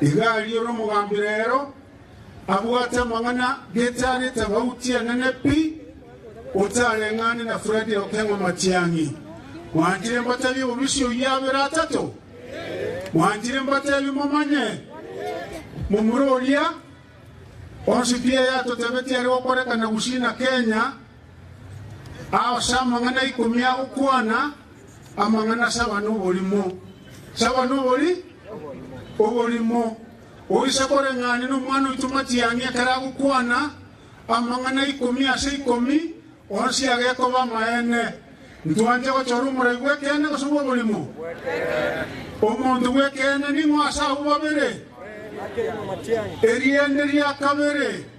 Iga aria ore omogambi rero, abwate amang'ana getiarete abauti enene pi, otareng'ane na Fredi okeng'wa matiang'i. Mwanchire mbatebie bobisi oyio abere atato? Mwanchire mbatebie momanye momura oria onsi pi eyatotebetie are gokorekana gusii na Kenya? Aase amang'ana ikomi agokwana, amang'ana saba noborimo, saba nobori oborimo. Oise koreng'ane nomwana oito matiang'i ekero agokwana, amang'ana ikomi ase ikomi onsi agekoba amaene. Ntwanche gochora omorai bw'ekeene gose bw'oborimo? Omonto bw'ekeene ning'o ase abwo babere? Eriende ria kabere.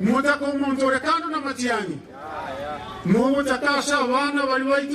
Mochake omonto ore kando namachiani, mogochake ase abana baria baito.